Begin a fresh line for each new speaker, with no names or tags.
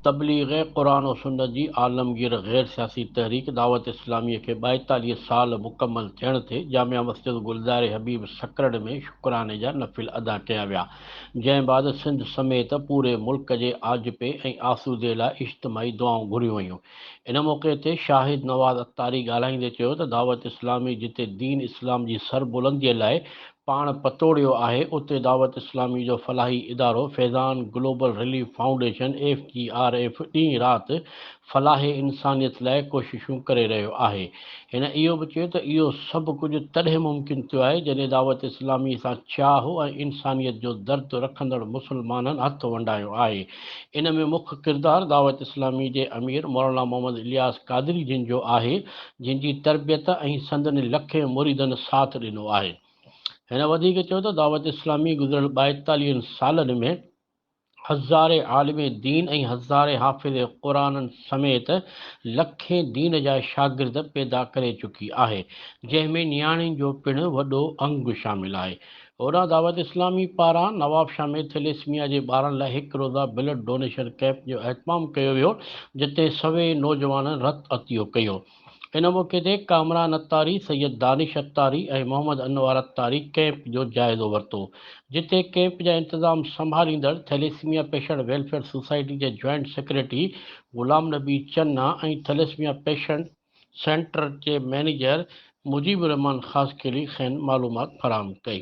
تبليغ قرآن و سنت جي عالمگير غير سياسي تحريڪ دعوت اسلاميء کي ٻائيتاليهه سال مڪمل ٿيڻ تي جامع مسجد گلزار حبيب سکرڙ ۾ شڪراني جا نفل ادا ڪيا ويا جنهن بعد سنڌ سميت پوري ملڪ جي آجپي ۽ آسودي لاء اجتماعي دعائون گهريون ويون ان موقعي تي شاهد نواز عطاري ڳالهائيندي چيو ته دعوت اسلامي جتي دين اسلام جي سربلندي لاء پاڻ پتوڙيو آهي اتي دعوت اسلامي جو فلاحي ادارو Faizan global relief foundation, F G R F, ڏينهن رات فلاح انسانيت لاء ڪوششون ڪري رهيو آهي. هن اهو به چيو ته اهو سڀ ڪجهه تڏهن ممڪن ٿيو آهي جڏهن دعوت اسلامي سان چاهه ۽ انسانيت جو درد رکندڙ مسلمانن هٿ ونڊايو آهي. ان ۾ مک ڪردار دعوت اسلامي جي امير مولانا محمد الياس قادري جن جو آهي، جن جي تربيت ۽ سندن لکين مريدن ساٿ ڏنو آهي. هن وڌيڪ چيو ته دعوت اسلامي گذريل ٻائيتاليهن سالن ۾ هزارين عالم دين ۽ هزارين حافظ قرآن سميت لکين دين جا شاگرد پيدا ڪري چڪي آهي، جنهن ۾ نياڻين جو پڻ وڏو انگ شامل آهي. هوڏانهن دعوت اسلامي پاران نوابشاهه ۾ ٿيليسميا جي ٻارن لاء هڪ روزه بلڊ ڊونيشن ڪئمپ جو اهتمام ڪيو ويو جتي سوين نوجوانن رت عطيو ڪيو ان موقعي تي ڪامران اتاري، سيد دانش اتاري ۽ محمد انوار اتاري ڪئمپ جو جائزو ورتو جتي ڪئمپ جا انتظام سنڀاليندڙ ٿيليسميا پيشنٽ ويلفيئر سوسائٽي جي joint secretary Ghulam Nabi Channa ۽ thalassemia patient centre جي مئنيجر مجيب الرحمان خاصخيلي کين معلومات فراهم ڪئي.